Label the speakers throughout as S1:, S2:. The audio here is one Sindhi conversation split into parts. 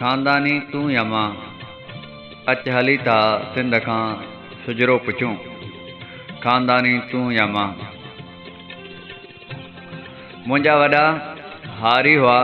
S1: خانداني تون يا مان، اچ هلي ٿا سنڌ کان شجرو پڇون. خانداني تون يا مان. منهنجا وڏا هاري هئا،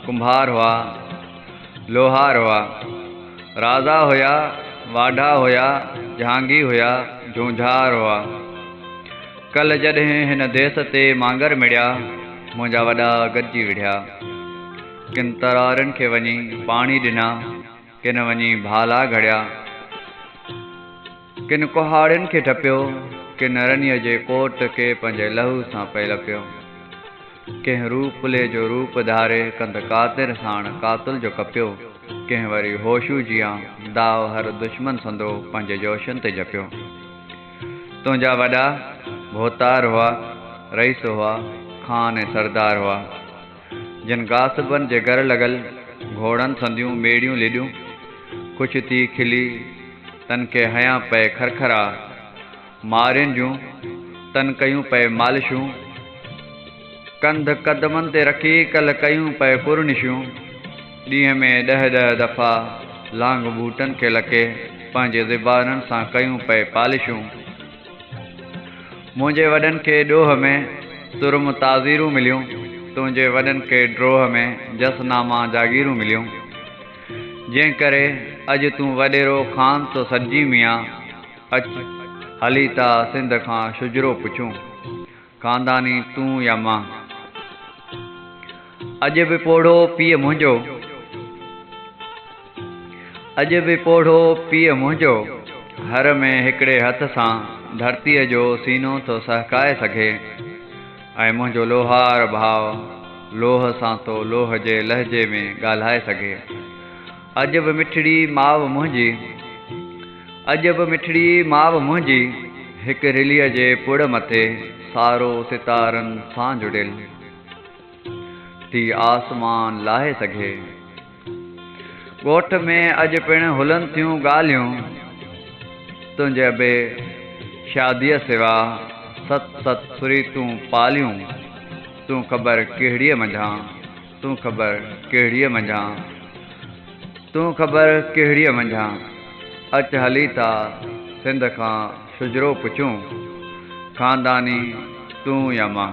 S1: ڪنڀار هئا، لوهار هئا، رازا هيا، واڍا هيا، جهانگي هيا، جهونجهار هئا. ڪل جڏهن هن ديس تي مانگر مڙيا، منهنجا وڏا گڏجي وڙهيا. ڪن ترارين کي وڃي پاڻي ڏنا، ڪن وڃي ڀالا گهڙيا. ڪن ڪهاڙين کي ٽپيو، ڪن رنيء جي ڪوٽ کي پنهنجي لهو سان پئي لپيو. ڪنهن روپلي جو روپ ڌاري ڪنڌ قاطر ساڻ قاتل جو ڪپيو، ڪنهن وري هوشو جيان داء هر دشمن سندرو پنهنجي جوشن تي جپيو. تنهنجا وڏا ڀوتار هئا، رئيس هئا، خان ۽ سردار هئا، جن غاصبن جي گر لڳل گهوڙن سنديون ميڙيون لڏيون، خوش ٿي کلي تن کي هنيا پئي کرکرا، مارين جون تن ڪيون پئي مالشون، ڪنڌ قدمن تي رکي ڪل ڪيون پئي پرنشون. ڏينهن ۾ ڏهه ڏهه دفعا لانگ بوٽن کي لڪي پنهنجي زبانن سان ڪيون پئي پالشون. منهنجي وڏن کي ڏوهه ۾ ترم تعزيرون مليون، تنهنجي وڏن کي ڊوهه ۾ جس ناما جاگيرون مليون. جنهن ڪري اڄ تون وڏيرو خان ٿو سڏجين ميان، اچ هلي ٿا سنڌ کان شجرو پڇون. خانداني تون يا مان. اڄ به پوڙهو پيء منهنجو. اڄ به پوڙهو پيء منهنجو. هر ۾ هڪڙي هٿ سان ڌرتيء جو سينو ٿو سهڪائي سگهي ۽ منهنجو لوهار ڀاء لوهه سان ٿو لوهه جي لهجي ۾ ڳالهائي سگهي. اڄ به مٺڙي ماء منهنجي، اڄ به مٺڙي ماء منهنجي، هڪ رليء جي پڙ مٿي سارو ستارن سان جڙيل ٿي آسمان لاهي سگهي. ڳوٺ ۾ اڄ پڻ هلن ٿيون ڳالهيون، تنهنجي ابي شاديء سوا ست ست سريتون پاليون، تون خبر ڪهڙيء منجهان. تون خبر ڪهڙيء منجهان، تون خبر ڪهڙيء منجهان، اچ هلي ٿا سنڌ کان شجرو پڇون، خانداني تون يا مان.